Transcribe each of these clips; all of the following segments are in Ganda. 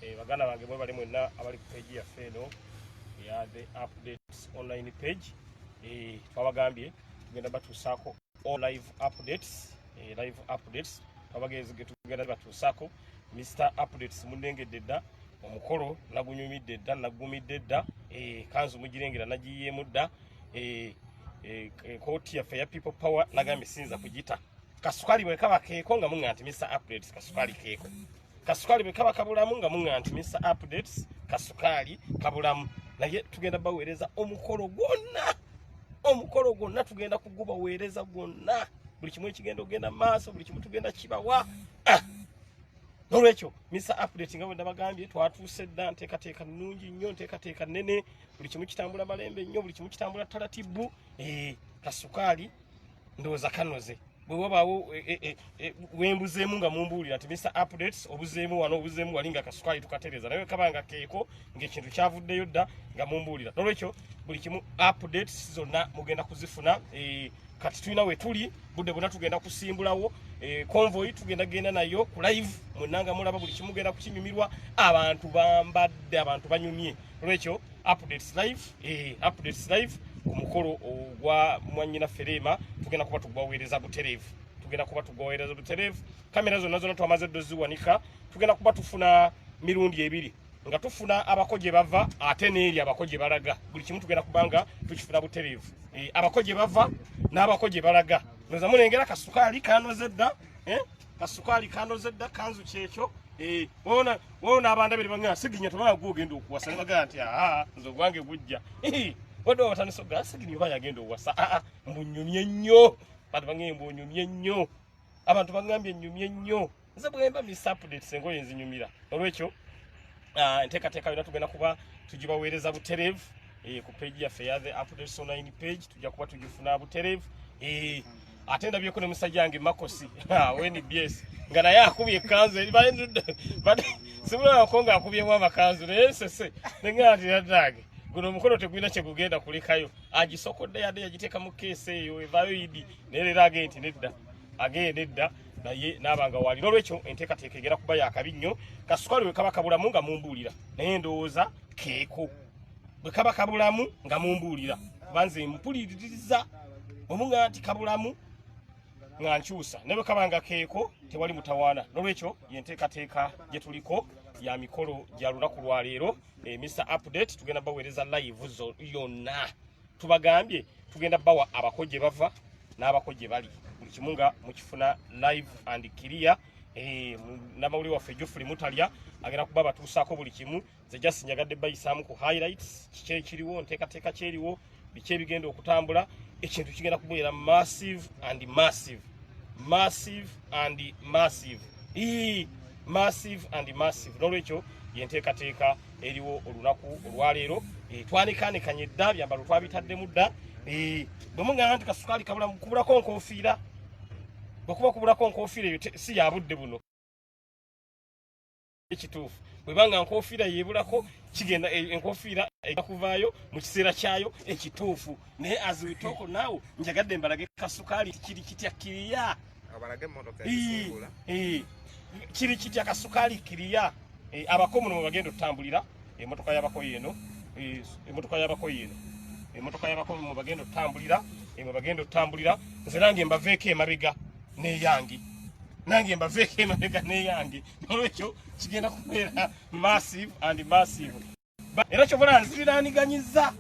Eh, baganda bange bwe bali mwenna abali ku page yaffe eno ya the updates online page eh, twabagambye tugenda batuusaako all live updates eh, live updates twabagenzi getugenda batuusaako mr updates munengedde dda omukolo nagunyumidde dda nagumidde dda kanzu mugirengera nagiyiyeemu dda kooti yaffe ya people power nagambye siyinza kugita kasukali bwe kaba keeko nga muŋŋa nti misa updates kasukali keeko kasukali bwe kaba kabulamu nga muŋŋa nti misa updates kasukali kabulamu naye tugenda baweereza omukolo gwonna omukolo gwonna tugenda kugubaweereza gwonna buli kimu ekigenda ogenda maaso buli kimu tugenda kibawa ah! nolwekyo misa update nga bwenda bagambye twatuuse dda nteekateeka nnungi nnyo nteekateeka nnene buli kimu kitambula malembe nnyo buli kimu kitambula talatibu eh, kasukaali ndowooza kanoze bwe wabaawo e, e, e, e wembuzeemu nga mumbuulira nti mr updates obuzeemu wano obuzeemu wali nga kasukaali tukatereza naye kaba nga keeko ngaekintu kyavuddeyo dda nga mumbuulira nolwekyo buli kimu updates zonna mugenda kuzifuna e, kati tulina wetuli budde bwona tugenda kusimbulawo e, convoy tugenda genda nayo ku live mwenanga mulaba buli kimugenda kukinyumirwa abantu bambadde abantu banyumye olwekyo updates live eh, updates live ku mukolo ogwa mwanyina ferema tugenda kuba tugwaweereza butereevu tugenda kuba tugwaweereza butereevu kamera zonna zonna twamaze ddo ziwanika tugenda kuba tufuna mirundi ebiri nga tufuna abako gye bava ate n'eri abako gye balaga buli kimu tugenda kuba nga tukifuna butereevu eh, abako gye bava n'abako gye balaga noza mulengera kasukaali kanoze dda eh? kasukaali kanoze dda kanzu kyekyo eh, wona wona abanda bali bangana siginya tabana gugenda okuwasa bagala nti aha nzo gwange gujja eh, wona watani so gas siginya oba yagenda okuwasa a ah, ah, mbunyumye nnyo bantu bangee mbunyumye nnyo abantu bangambye nyumye nnyo nze bwemba miss update sengo yenzi nyumira olwekyo ah, nteka teka yona tugenda kuba tujibawereza buterevu eh, ku page ya feather updates online page tujja kuba tujifuna buterevu eh, ate ndabyeko ne musajja wange makosi wnbs nga naye akubye ekanzu simulabako nga akubyemu amakanzu naye nsese nengaatiradange guno omukolo tegulina kyegugenda kulekayo agisokodde yadde yagiteeka mu keesi eyo evayo idi naye leero agee nti nedda agee nedda naye naaba nga wali nolwekyo enteekateeka egera kuba yakabi nnyo kasukali wekaba kabulamu nga mumbuulira naye ndowooza keeko bwe kaba kabulamu nga mumbuulira kuba nze mpuliririza omuga nti kabulamu nga nkyusa naye bwe kaba nga keeko tewali mutawaana n'olwekyo ye nteekateeka gye tuliko ya mikolo gya lunaku lwaleero e, eh, mr update tugenda baweereza live zo yonna tubagambye tugenda bawa abako gye bava n'abako gye bali buli kimu nga mukifuna live and clear eh, namawulire waffe jofuli mutalya agenda kuba batuusaako buli kimu nze just njagadde bayisaamu ku highlights kiki ekiriwo nteekateeka kyeriwo biki ebigenda okutambula ekintu kigenda kubeera massive and massive massive and massive ii massive and massive nolwekyo yenteekateeka eriwo olunaku olwaleero e, twanikanikanye dda byambalo twabitaddemu dda e, bwemugamba nti kasukaali kabula kubulako nkofiira bwekuba kubulako nkofiira eyo si yabudde buno ekituufu bweba nga nkofiira yebulako kigenda eh, enkofiira ega kuvaayo mu kiseera kyayo ekituufu naye aziwitooko naawo njagadde mbalage kasukaali kiri kitya kiriya kiri kitya kasukaali kiriya eh, abako muno mwebagenda otutambulira emotoka yabako yeno eh, emotoka yabako yeno emotoka yabako mwebagenda otutambulira mwebagenda otutambulira nze nange mbaveeko emabega neyange nange mbaveeko emabega neyange olwekyo kigenda kubeera massive and massive era kyobola nziriraaniganyizza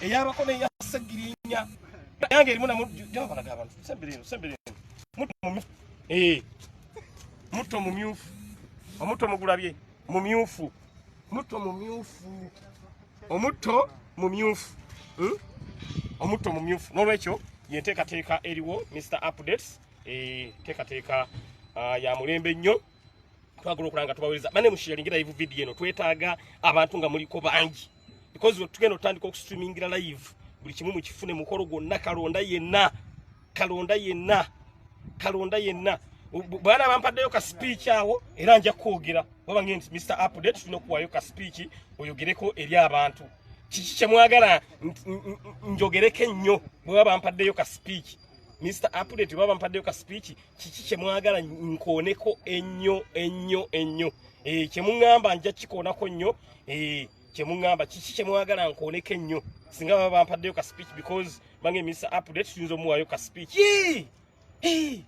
eyabako neya segirinya yange erimu namujabalaga abantu sembereno sembereno eh, mutto mumyufu omutto mugulabye mumyufu mutto mumyufu omutto mumyufu hmm? omutto mumyufu n'olwekyo yenteekateeka eriwo mr updates enteekateeka eh, ah, ya mulembe nnyo twagala okulaba nga tubawereza bane mushiyalingira live video eno twetaaga abantu nga muliko bangi because tugenda otandika okustreamingira live buli kimu mukifune mukolo gwonna kalonda yenna kalonda yenna kalonda yenna bwana bampaddeyo ka speech awo era nja kwogera baba ngenti mr update tulina okuwaayo ka speech oyogereko eri abantu kiki kyemwagala njogereko ennyo bweba bampaddeyo ka speech Mr. Apule tuba bampadde ka speech kiki kye mwagala nkoneko ennyo ennyo ennyo eh kye mungamba nja kikonako nnyo eh kye mungamba kiki kye mwagala nkoneko ennyo singa baba bampadde ka speech because bange Mr. Apule tuyinza omuwayo ka speech eh eh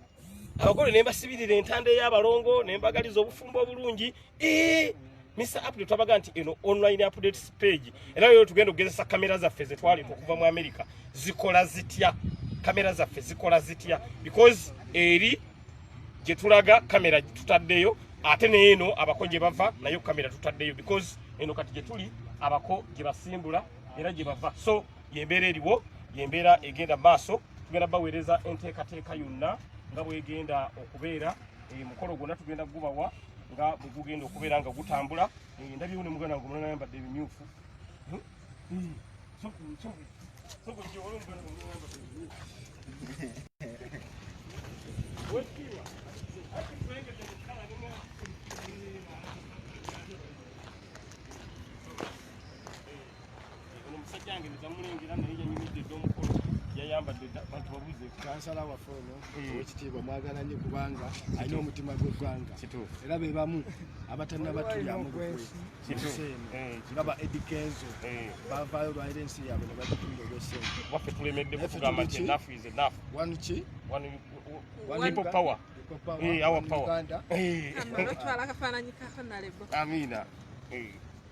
abagole nemba sibirira entande y'abalongo nembagaliza obufumbo obulungi Eh, Mr. Apple twabaga nti eno online updates page era lero tugenda okugezesa kamera zaffe zetwali okuva mu America zikola zitya kamera zaffe zikola zitya because eri gye tulaga kamera tutaddeyo ate neeno abako gye bava nayo kamera tutaddeyo because eno kati gye tuli abako gye basimbula era gye bava so yembeera eriwo yembeera egenda maaso tugenda baweereza enteekateeka yonna nga bwegenda okubeera eh, mukolo gwonna tugenda gubawa nga bwegugenda okubeera nga gutambula eh, ndabyewo ne muganda wange omulala yambadde ebimyufu hmm? Hmm. ono musajja wange nezamulengera naye yanyumidde dda omukolo yayambadde bantu babuze kansala waffe ono hmm. owekitiibwa mwagala nnyo kubanga alina omutima gw'eggwanga era be bamu abatannabatulyamu lukwemuseeno eh, nga ba edi kenzo eh. bavaayo lwalira ensi yaabwe ne bagitunda olwesente waffe tulemedde kutugamba nti enafu is enafu wanu ki wanu people power Hey, eh, our power. Hey. Amina. Hey.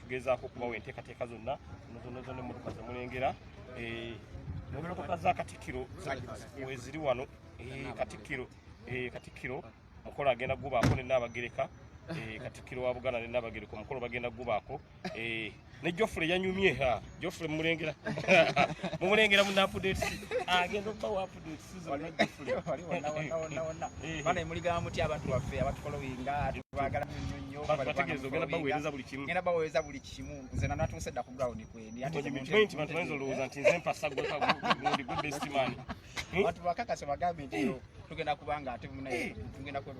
tugezaako okubawa enteekateeka zonna zonna zonna emmotoka ze mulengera eh, mummotoka za katikkiro weziri wano eh, katikkiro eh, katikkiro mukolo agenda kugubaako ne naabagereka katikkiro wa buganda ne naabagereka omukolo bagenda kugubaako ne jofule yanyumye jofule mumulengera mumulengera mu napudet agenda okubawa bana emuligamba mutya abantu baffe abatufolowinga tubagala nnyo nnyo era baweereza buli kimu nze nanatuuse dda ku ground kwendi abantu bakakase bagambe nti tugenda kubanga ate munaye tugenda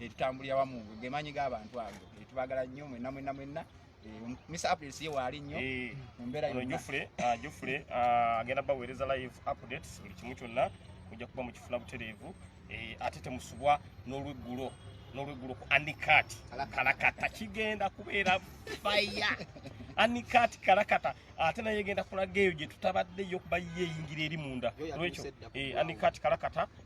etutambulira wamu gemanyi g'abantu ago etubagala nnyo mwenna mwenna mwenna Mr. April siye waali nnyo eh, mu mbeera yonna Jofre ah, Jofre ah, agenda baweereza live updates buli kimu kyonna mujja kuba mukifuna butereevu eh, ate temusubwa n'olweggulo n'olweggulo ku anikat kalakata kigenda kubeera faya anikat kalakata ate naye egenda kulaga eyo gye tutabaddeyo kuba ye eyingira eri munda olwekyo eh, anikat kalakata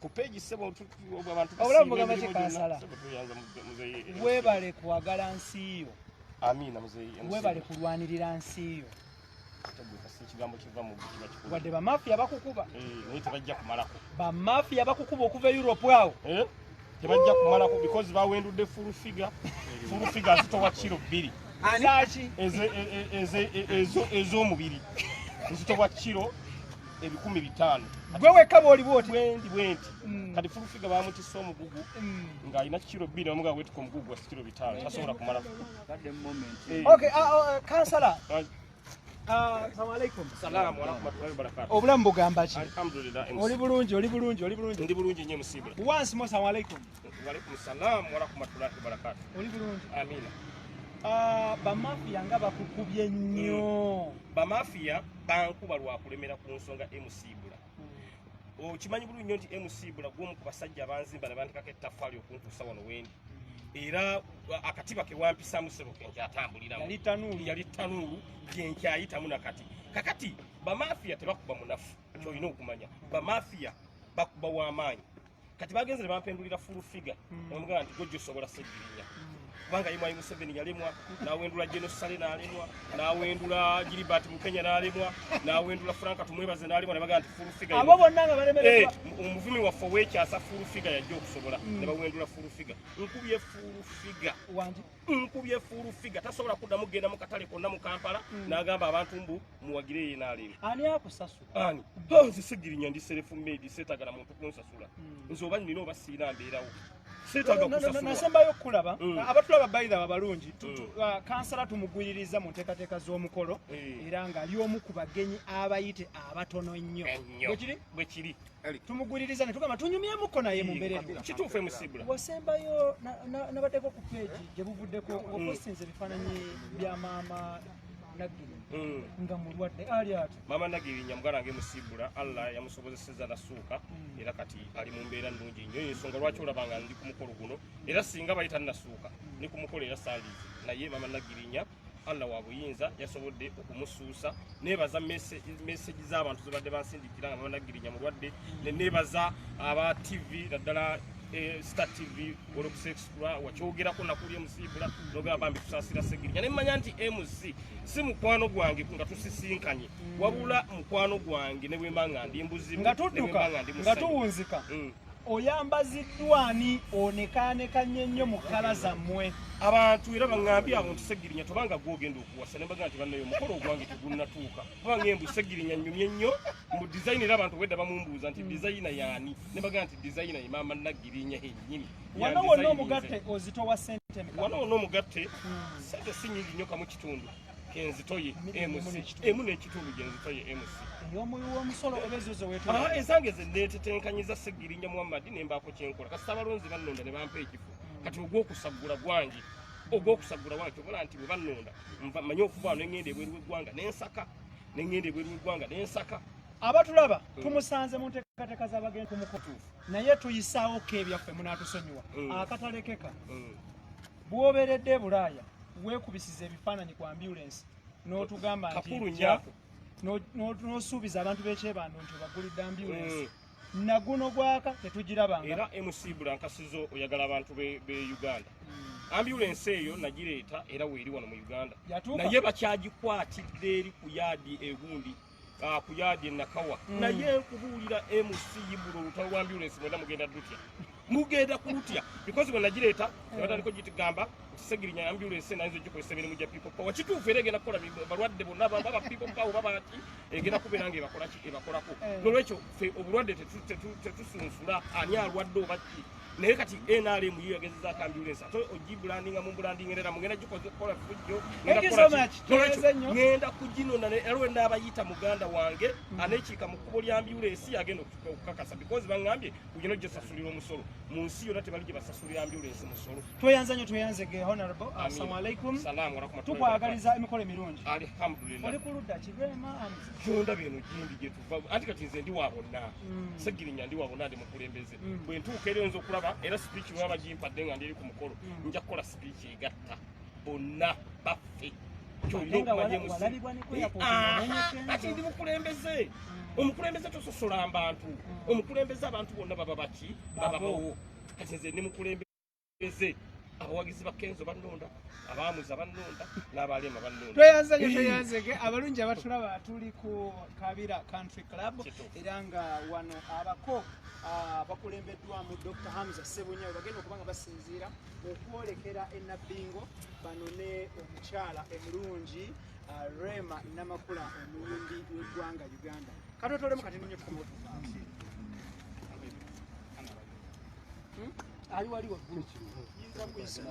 ku page sebo abantu abulamu gamba te kansala webale kwagala nsi yo amina mzee webale kulwanirira nsi yo wadde bamafiya bakukuba eh, tebajja kumalako bamafiya bakukuba okuva e europe awo eh, tebajja kumalako because bawendudde fulufiga fulufiga azitowa kiro bbiri ez'omubiri ezitowa kiro ebikumi bitaano gwe wekka bwoli bwoti bwendi bwenti mm. kati fulufiga bamutisa omugugu mm. ng'alina kiro bbiri namugaa wetuka omugugu gwa kiro bitaano mm. tasobola kumala eh. uh, uh, kansala ah, obulamu bugamba ki oli bulungi oli bulungi oli bulungi ndi bulungi nyo musibula once more salamu alaikum Waalaikum salaam warahmatullahi wabarakatuh. Oli bulungi? Amina. Ah, bamafiya nga bakukubye nnyo. Hmm. Bamafiya bankuba lwa kulemera ku nsonga MC Bula. Hmm. Okimanyi bulungi nnyo nti MC Bula gw'omu ku basajja abanzimba ne bandikako ettaffaali okuntuusa wano wendi. Hmm. Era ah, akatiba ke wampisaamu ssebo ke nkyatambuliramu. Yali tanuulu. Yali tanuulu gye nkyayitamu na kati. Kakati bamafiya tebakuba munafu. Kyolina okumanya. Bamafiya bakuba w'amaanyi. kati bagenze ne bampendulira full figure hmm. omugamba nti gojja osobola segirinya hmm. kubanga ye mwali museveni yalemwa nawendula genosale nalemwa nawendula gilibert mukenya nalemwa nawendula franka tumwebaze nalemwa nebagaa nti full figure abo bonna nga balemererwa eh, omuvumi waffe owekyasa full figure yajja okusobola hmm. nebawendula full figure nkubye full figure wangi nkubye full figure tasobola kuddamu kugenda mu katale konna mu kampala nagamba abantu mbu muwagire ye nalemwa ani akusasu ani oh, nze segirinya ndi serefu medi setagala muntu kunsasula hmm. nze oba nina oba siina mbeerawo nasembayo okukulaba hmm. abatulaba baidha abalungi hmm. uh, kansala tumugwiririza mu nteekateeka z'omukolo era ng'ali omu ku bagenyi abayite abatono ennyo bwekiri tumuguliriza netugamba tunyumyemuko naye mumbeera kituufu emusibula wasembayo nabaddeko ku peegi gye buvuddeko ngaosinza mm. ebifaananyi bya maama nagiri mm. nga mulwadde ali ati maama nagiri nyamugala nga emusibula allah yamusobozeseza nasuuka mm. era kati ali mu mbeera nnungi nnyo ensonga lwaki olabanga ndi ku mukolo guno era singa bayita nasuuka ni ku mukolo era sandiizi naye maama nagirinya Allah wa buyinza yasobodde okumusuusa nebaza message z'abantu zibadde bansindikira nga banagirinya mulwadde nebaza aba TV naddala eh, Star TV olwokusexpla wakyogerako nakuli emusiibula nogamba bambi tusasira segirinya ne mmanya nti MC si mukwano gwange nga tusisinkanye wabula mukwano gwange ne bwemba nga ndi mbuzi nga tudduka nga tuwunzika mm. oyambaziddwa ani onekaaneka nnyo nnyo mu kkala zammwe abantu era baŋambye abo nti segirinya tobanga gwogenda okuwasa nembaga nti bannaye omukolo ogwange tegunnatuuka kubanga embu segirinya nnyumye nnyo mu dizayina era abantu obwedda bamumbuuza nti dizayina yaani nembaga nti dizayina ye maama naggirinya hennyini wano wonna omugatte ozitowa sente wano wonna omugatte hmm. sente si nyingi nnyo kamu kitundu kenzitoye emu n'ekitundu gyenzitoye mc ah, ezange zenetetenkanyiza segirinya muhammadi nembaako kyenkola kasita abalonzi bannonda ne bampa ekifo hmm. kati ogw'okusaggula gwange ogw'okusaggula gwange kyobola nti bwe bannonda manye okuvaano nengenda ebweru w'eggwanga nensaka nengenda ebweru w'eggwanga nensaka abatulaba hmm. tumusanze mu nteekateeka z'abagenda ku mukutuufu naye tuyisaawo ko ebyaffe munaatusonyiwa hmm. akatalekeka Bw'obeeredde e Bulaaya weekubisiza ebifaananyi ku ambulensi n'otugamba nti n'osuubiza abantu b'ekyebando nti obaggulidde ambulensi eh. naguno gwaka tetugirabanga era mc bulankasizo oyagala abantu be uganda hmm. ambulensi eyo nagireeta era weeri wano mu uganda naye bakyagikwatidde eri ku yaadi egundi Ah, ku yaadi enakawa mm. naye nkubuulira mc yibulo olutalo lwa ambulensi mwena mugenda dutya mugenda kulutya because bwe nagireeta mm. nabataliko gitugamba okusegirinya ambulensi nayinza ogikozesa emirimu gya people power kituufu era egenda kukola balwadde bonna baba people power babaki egenda kubeera nga ebakolaki ebakolako mm. nolwekyo fe obulwadde tetusunsula ani alwadde obaki naye kati nrm yo yagezeza akambulensi ate ogibulandinga mu bulandingerera mugenda gikola fujjo ngenda kuginona erwe naabayita muganda wange mm. anekiika mu kkubo lya ambulensi agenda okukakasa because baŋambye kugina gyesasulira omusolo mu nsi yonna tebali gye basasulira ambulensi musolo tweyanza nyo tweyanze ge honorable assalamu alaikum tukwagaliza emikolo emirungi alhamdulillah oli kuludda kibema amzi kyonda bino gindi gyetuva anti kati nze ndi wa bonna mm. segirinya ndi wa bonna ndi mukulembeze mm. bwe ntuuka era oyinza okulaba era sipiiki baba bagimpadde nga ndiri ku mukolo mm. nja kukola sipiiki egatta bonna baffe kyolina okumanya musikati ndi mukulembeze mm. omukulembeze tososola mbantu omukulembeze abantu bonna baba baki bababawo kati nze ndi mukulembeze Eze abawagizi ba Kenzo bannonda abaamuza bannonda n'abaleema bannonda tweyanze nyo tweyanze ge abalungi abatulaba tuli ku kabira country club era nga wano abako ah, bakulembeddwamu dr hamza sebunya webagenda okuba nga basinziira okwolekera enabbingo banone omukyala emulungi ah, rema namakula omuyimbi w'eggwanga uganda katotolemu kati ninyo tukomoto ali wali waggulu yinza kuyisira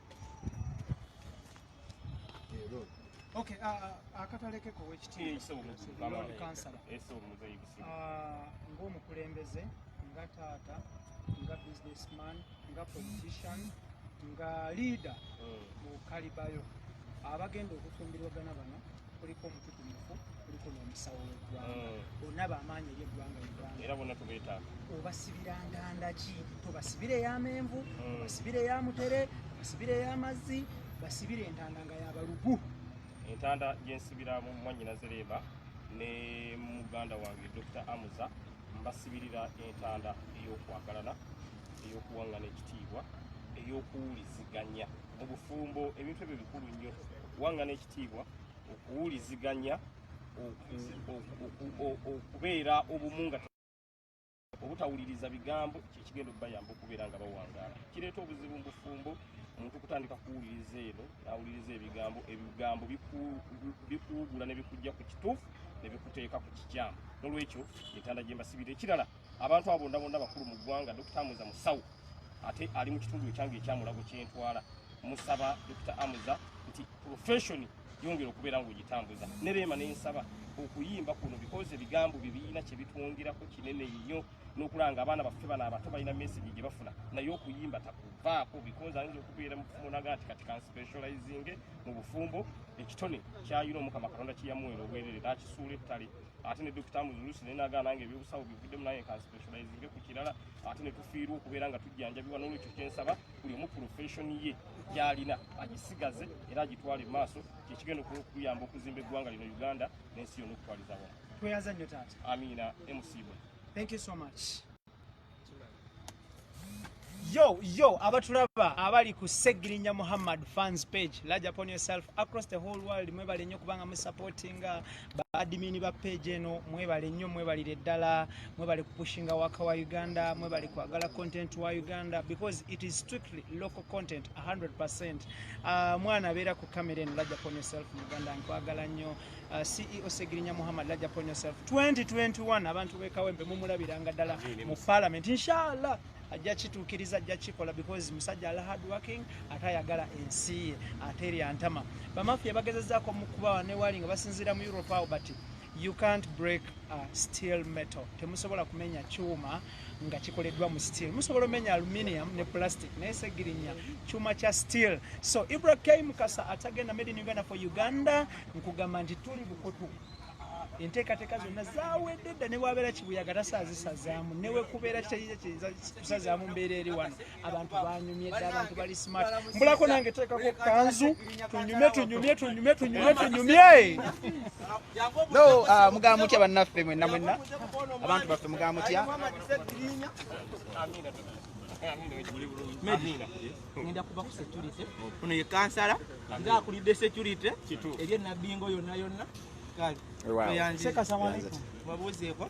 Okay, uh, uh, akatalekeko wekitiibwakansala eh, uh, ng'omukulembeze nga taata nga businessman nga politician nga leader hmm. mu kalibayo abagenda okufumbirwagana bano kuliko kuliko n'omusawo w'eggwanga mm. bonna bamaanyi eri eggwanga eggwanga era bonna tubeetaaga obasibira nganda ki tobasibira ey'amenvu mm. obasibira eya mutere obasibira ey'amazzi basibira entanda nga yabalugu entanda gyensibira mu mwanyina zereeba ne muganda wange dr amuza mbasibirira entanda ey'okwagalana ey'okuwangana ekitiibwa ey'okuwuliziganya mu bufumbo ebintu ebyo bikulu nnyo kuwangana ekitiibwa okuwuliziganya okubeera obumu nga obutawuliriza bigambo kyekigenda okubayamba okubeera nga bawangaala kireeta obuzibu mu bufumbo omuntu kutandika kuwuliriza eno nawuliriza ebigambo ebigambo bikuwugula ne bikujja ku kituufu ne bikuteeka ku kikyamu nolwekyo entanda gyembasibira ekirala Abantu abondabonda bakulu mu ggwanga Dr. Amuza Musawo ate ali mu kitundu ekyange ekyamulago kyentwala musaba Dr. Amuza nti profession yongera okubeera ng'ogitambuza ne Rema ne nsaba okuyimba kuno because ebigambo bye birina kye bitwongerako kinene nnyo n'okulanga abaana baffe bano abato balina message gye bafuna naye okuyimba takuvaako because ayinza okubeera mufumu naga nti kati kanspecializinge mu bufumbo ekitone kyayina omukama katonda kiyamuwera obwerere nakisuula ettale ate ne dokita muzulusi naye nagaana nga ebyobusawo bivuddemu naye nka specializinge ku kirala ate ne tufiirwa okubeera nga tujjanjabibwa n'olwekyo kyensaba buli omu profeshoni ye gyalina agisigaze era agitwale mu maaso kyekigenda okuyamba okuzimba eggwanga lino uganda n'ensi yona okutwaliza wamu tweyaza nnyo taata amiina emusiibwe thank you so much yo yo abatulaba abali ku segirinya muhammad fans page large upon yourself across the whole world mwebale nnyo kubanga musupportinga ba admin ba page eno mwebale nnyo mwebalire ddala mwebale kupushinga waka wa uganda mwebale kwagala content wa uganda because it is strictly local content 100 uh, mwana abeera ku camera eno large upon yourself muganda nkwagala nnyo Uh, CEO Segirinya Muhammad Laja upon yourself 2021 abantu bekawembe mumulabiranga dala mu parliament inshallah ajja kituukiriza ajja kikola because musajja ala hard working ate ayagala ensi ye ate erya ntama bamafiya bagezezaako mukubawa newali nga basinziira mu europe awo but you can't break a steel metal temusobola kumenya kyuma nga kikoleddwa mu steel musobola omenya aluminium ne plastic naye segirinya kyuma kya steel so ibra k mukasa atagenda made in uganda for uganda nkugamba nti tuli bukutu enteekateeka zonna zawedde dda ne bwabeera kibuyaga tasaazisazaamu newekubeera kitayiza kiyinza kusazaamu mbeera eri wano abantu banyumye dda abantu bali smart mbulako nange teekako kanzu tunyume tunyumye tunyume tunyumye tunyumye no uh, mugamba mutya bannaffe mwenna mwenna abantu baffe mugamba mutya ngenda kuba ku security ono ye kansala nga akulidde security ebye nabingo yonna yonna kale babuuzeeko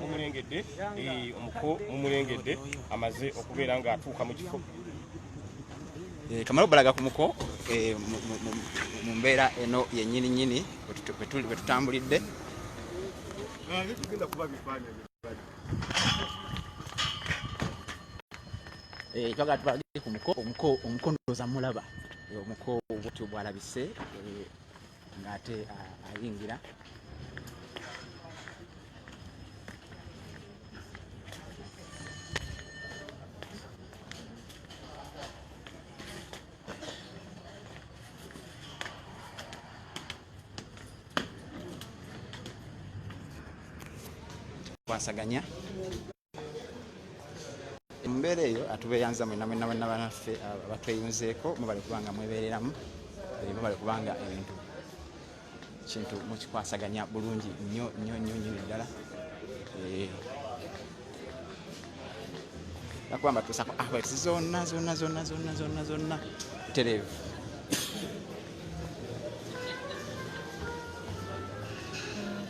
mumulengedde eh, omuko mumulengedde amaze okubeera nga atuuka mu kifo eh, kamala obalaga ku muko eh, mu mbeera eno yenyini nyini wetutambulidde twagala tubalage ku muko omuko omuko ndooza mulaba omuko bwotyo bwalabise ng'ate ayingira kwasaganya embeera eyo atubeyanza mwena mwena mwena banaffe abatweyunzeeko mubale kubanga mwebereramu mubale kubanga ebintu kintu mukikwasaganya bulungi nyo nyo nyo nyo ddala nakuba mbatuusako awesi zonna zonna zonna zonna zonna zonna tereevu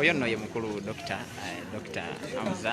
oyo nno ye mukulu dokita eh, dokita hamza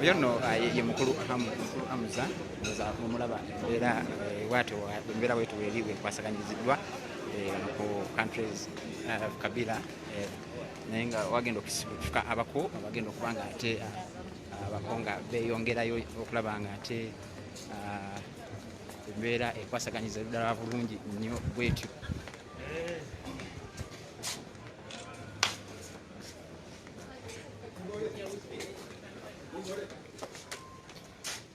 oyo nno ah, ye mukulu hamuza mumulaba era eh, watyo embeera wetu eri wekwasaganyiziddwa eh, ku countries eh, kabila naye nga wagenda okufuka abako abagenda okuba nga ate ah, abako nga beyongerayo okulaba nga ate ah, embeera ekwasaganyiza eddala bulungi nnyo bwetyo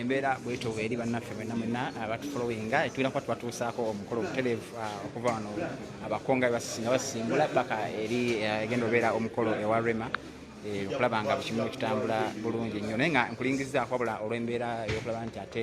embeera bwetyo eri bannaffe mwena mwena abatufolowinga ah, etwira kuba tubatuusaako omukolo obutereevu ah, okuva wano abakonga nga basimbula paka eri ah, egenda obeera omukolo ewa rema eh, okulaba nga bukimu kitambula bulungi nnyo naye nga nkulingizaako wabula olw'embeera ey'okulaba nti ate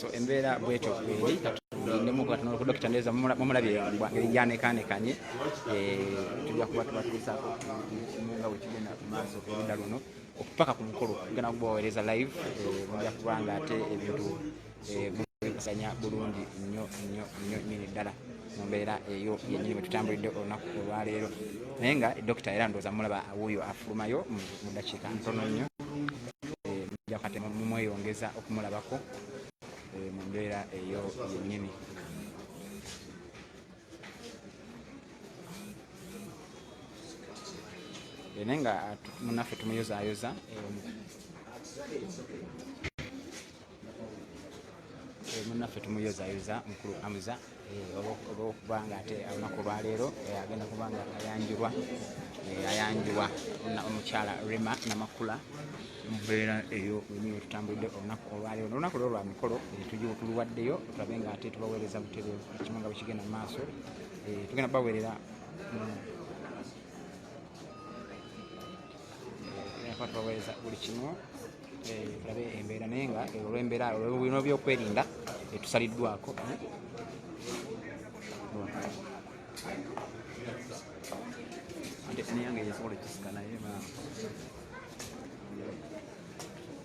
so embeera bwetyo eri dokita ndeza mumulabye ngeri gyanekaanekanye eh, tujja kuba tubatuusaako nga wekigenda mu maaso erudda luno okupaka ku mukolo tugenda kubaweereza live eh, mujja kuba nga ate ebintu eh, mubikusanya bulungi nnyo nnyo nnyo nyini ddala mu mbeera eyo yennyini wetutambulidde olunaku olwaleero naye nga dokita era ndooza mulaba wuuyo afulumayo mu dakiika ntono nnyo eh, mumweyongeza okumulabako eh, mu mbeera eyo yennyini eh, naye nga ah, munaffe tumuyozaayoza Eh, munnaffe tumuyozayoza mukulu amuza eh, olwokuba nga ate olunaku olwaleero eh, agenda kuba nga ayanjulwa ayanjulwa omukyala rema namakula mubeera eyo wenyiwe tutambulidde olunaku olwaleero nolunaku lwo lwa mikolo tuluwaddeyo tulabe nga ate tubaweereza butebe ekimu nga bwekigenda mu maaso tugenda baweerera tubaweereza buli kimu eh, tulabe embeera naye nga eh, olwembeera olwebino byokwerinda etusaliddwako eh. ate siniyange yesobola ekisika naye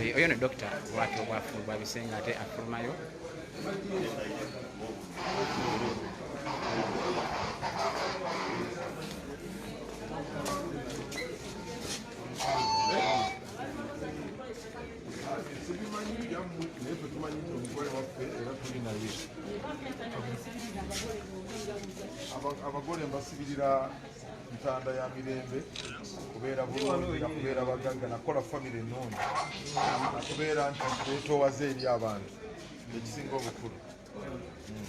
Eh, oyo ne dokita bwati obwafulu bwabisenga ate afulumayo abagole mbasibirira ntanda ya mirembe kubeera bulungi nakubeera bagagga nakola famire ennungi nakubeera nti betowaze eri abantu ekisinga obukulu hmm.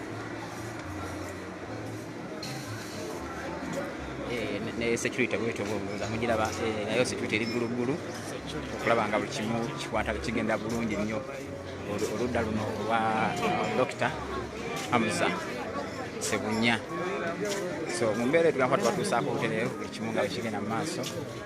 ne security bwetyo bwobuuza mugiraba eh, nayo security eri gguluggulu okulaba nga buli kimu kikwata kigenda bulungi nnyo oludda luno olwa dokita hamza sebunya so mu mbeera etugakuba tubatuusaako obutereevu buli kimu nga bwekigenda mu maaso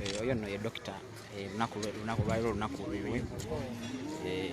Eh, oyo nno ye dokita eh, lunaku lwaliro olunaku olwiwe eh,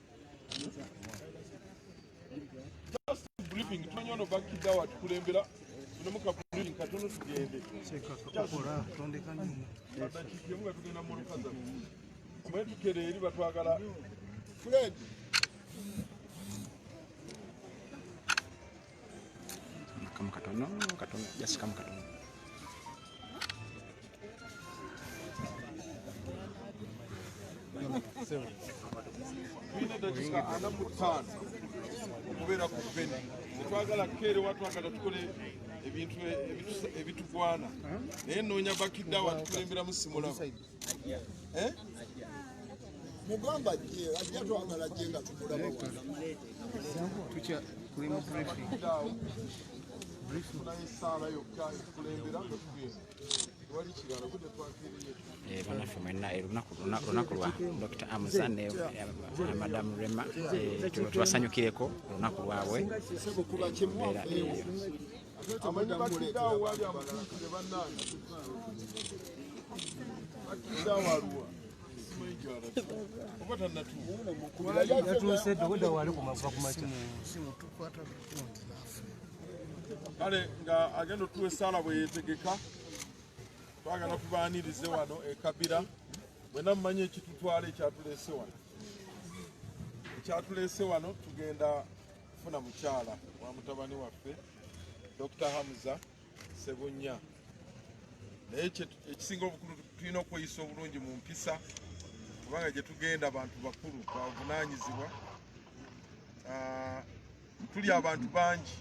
Just briefing, tumanyi ono bakidda wa tukulembera tulimu ka briefing katono tugende. Kyekakola tondeka nyuma. Badakiki nga tugenda mu lukaza. Mwetukere eri batwagala. Fred. Kama katono, katono, just kama katono. okubeera ku beni tetwagala kukeerewa twagala tukole ebintu ebitugwana naye noonya bakidde awo atukulemberamu simulamu Eh? mugamba je ajja twagala je nga tukulaba banaffe mwena olunaku lwa dr amuza ne madamu rema tubasanyukireko olunaku lwabwe amanyi batidde awo wali amutuukire bannange batidde awo aluwa yatuuse dogoda wali kumava kumakya kale nga agenda otuwa esaala bwe yetegeka twagala tubaanirize wano ekabira mwena mumanyi ekitutwala ekyatuleese wano ekyatuleese wano tugenda funa mukyala wa mutabani waffe Dr. Hamza Sebunya naye ekisinga obukulu tulina okweyisa obulungi mu mpisa kubanga gye tugenda abantu bakulu bavunaanyizibwa ah, tuli abantu bangi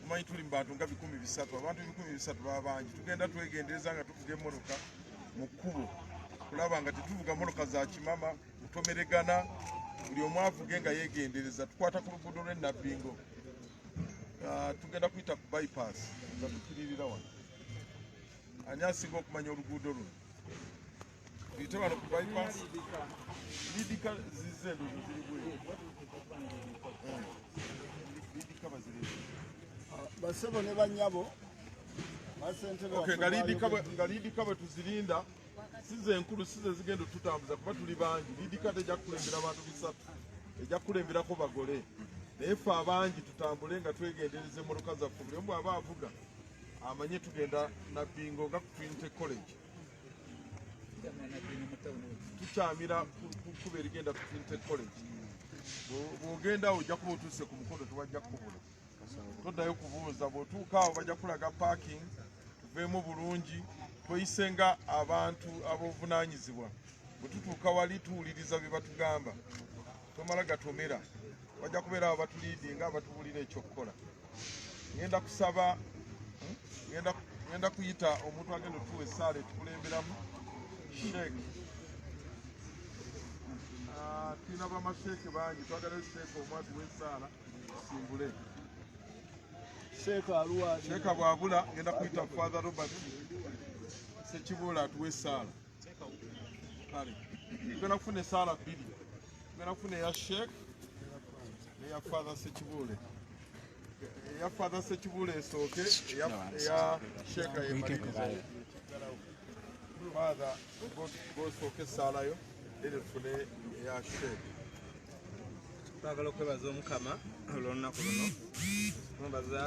omanyi tuli mu bantu nga bikumi bisatu abantu ebikumi bisatu baba bangi tugenda twegendereza nga tuvuga emotoka mu kkubo kulaba nga tetuvuga motoka za kimama mutomeregana buli omu avuge nga yegendereza tukwata ku luguudo lw'e nabbingo ah, tugenda kuyita ku bypass nga tukiririra wano ani asinga okumanya oluguudo luno tuyite wano ku bypass lidika zize ndozo ziri bweru eh, lidika baziri ah, basebo ne banyabo basentebe nga lidika bwe tuzirinda size enkulu size zigenda otutambuza kuba tuli bangi lidikati ejja kukulembera abantu bisatu ejja kukulemberako bagole naye ffe abangi tutambule nga twegendereza emmotoka zaffe buli omu aba avuga amanye tugenda nabbingo nga ku trinity college tukyamira kukuba erigenda ku trinity college bwogenda ojja kuba otuuse ku mukono tewajja kukubula toddayo kubuuza bw'otuuka awo bajja kulaga parking tuveemu bulungi tweyise nga abantu ab'obuvunaanyizibwa bwe tutuuka wali tuwuliriza bye batugamba tomala gatomera bajja kubeera awo batuliidi nga abatubulira ekyokukola ngenda kusaba hmm, ngenda kuyita omuntu agenda otuwa esaala etukulemberamu sheek ah, tulina bamasheeke bangi twagalayo sheeke omwatu w'esaala sheeka bwabula ngenda kuyita father robert sekibuula atuwe esaala kale tugenda kufuna esaala bbiri tugenda kufuna eya sheek neya father sekibuule eya father sekibuule esooke eya sheeka yemalirize father gosooka esaalayo ere tufune eya sheek twagala okwebaza omukama olwolunaku luno mwebaza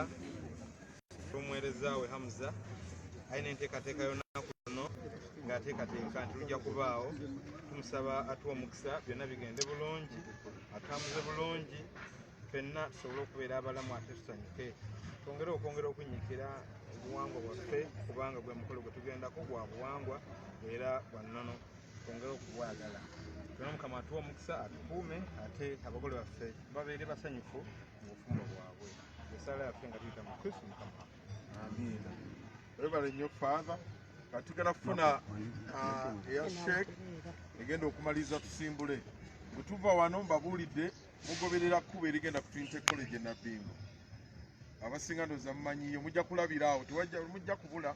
omuweereza we hamuza alina enteekateeka yolunaku luno ng'ateekateeka nti lujja kubaawo tumusaba atuwa omukisa byonna bigende bulungi atambuze bulungi fenna tusobole okubeera abalamu ate tusanyuke twongere okwongera okunyikira obuwangwa bwaffe kubanga gwe mukolo gwe tugendako gwa buwangwa era bwa nnono twongere okubwagala tuna mukama atuwa omukisa atukuume ate abagole baffe babeere basanyufu mu bufumbo bwabwe esaala yaffe nga tuyita mu kristu mukama amiina webale nnyo faatha katugala kufuna ah, eya sheek egenda okumaliza tusimbule bwe tuva wano mbabuulidde mugoberera kkuba erigenda ku twinte college enabbingo abasinga ndoza mumanyiyo mujja kulabira awo mujja kubula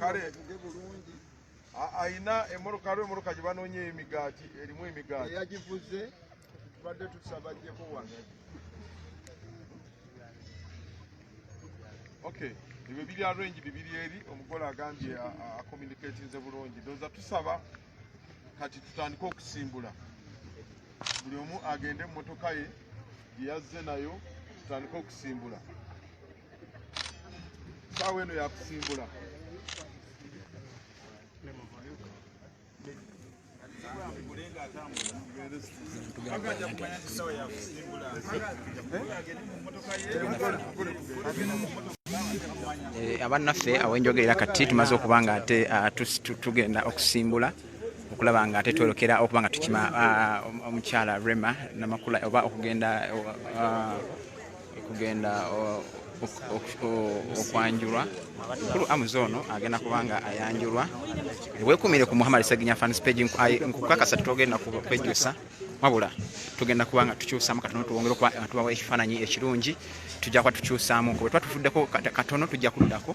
kale ayina emoroka aliwo emoroka gye banoonya emigaati erimu emigaati eyagivuze tubadde tusaba jeko wano okay ebyo biri arrange bibiri eri omugole agambye acommunicatinze bulungi ndoza tusaba kati tutandike okusimbula buli omu agende mu motoka ye gyeyazze nayo tutandike okusimbula saawa eno yakusimbula Eh, abannaffe awenjogerera kati tumaze okuba nga ate ah, tugenda okusimbula okulaba nga ate twolokera okuba nga tukima ah, omukyala rema namakula oba okugenda ah, kugenda okwanjulwa mukulu amuzi ono agenda kubanga ayanjulwa wekumire ku muhammad seginya fans page nkukakasa tutogenda kwejusa wabula tugenda kuba nga tukyusamu katono tuwongere okuba nga tubawa ekifaananyi ekirungi tujja kuba tukyusamu kuba tuba tufuddeko katono tujja kuddako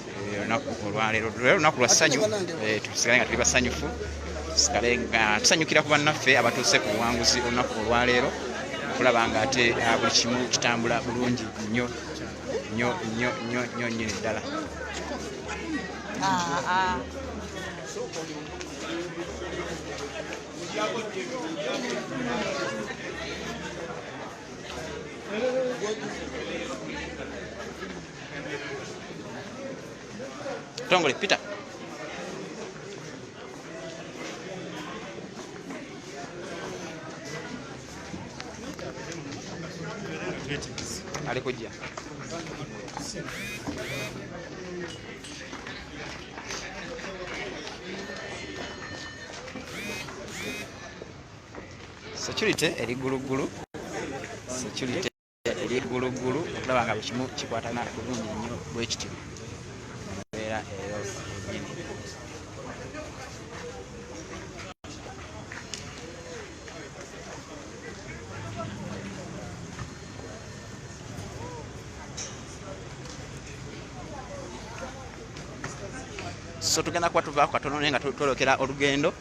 olunaku olwaleero lwe lunaku lwa ssanyu eh, tusigale nga tuli basanyufu tusigale nga tusanyukira ku bannaffe abatuuse ku buwanguzi olunaku olwaleero okulaba nga ate ah, buli kimu kitambula bulungi nnyo nnyo nnyo nnyo nnyo nnyini ddala ah, ah. Tongole, pita. Alikuja. Security eri gulugulu. Security ery'egguluggulu okulaba nga buli kimu kikwatana bulungi nnyo bwe kityo mbeera eyo yennyini so tugenda kuba tuvaako katono naye nga twolokera olugendo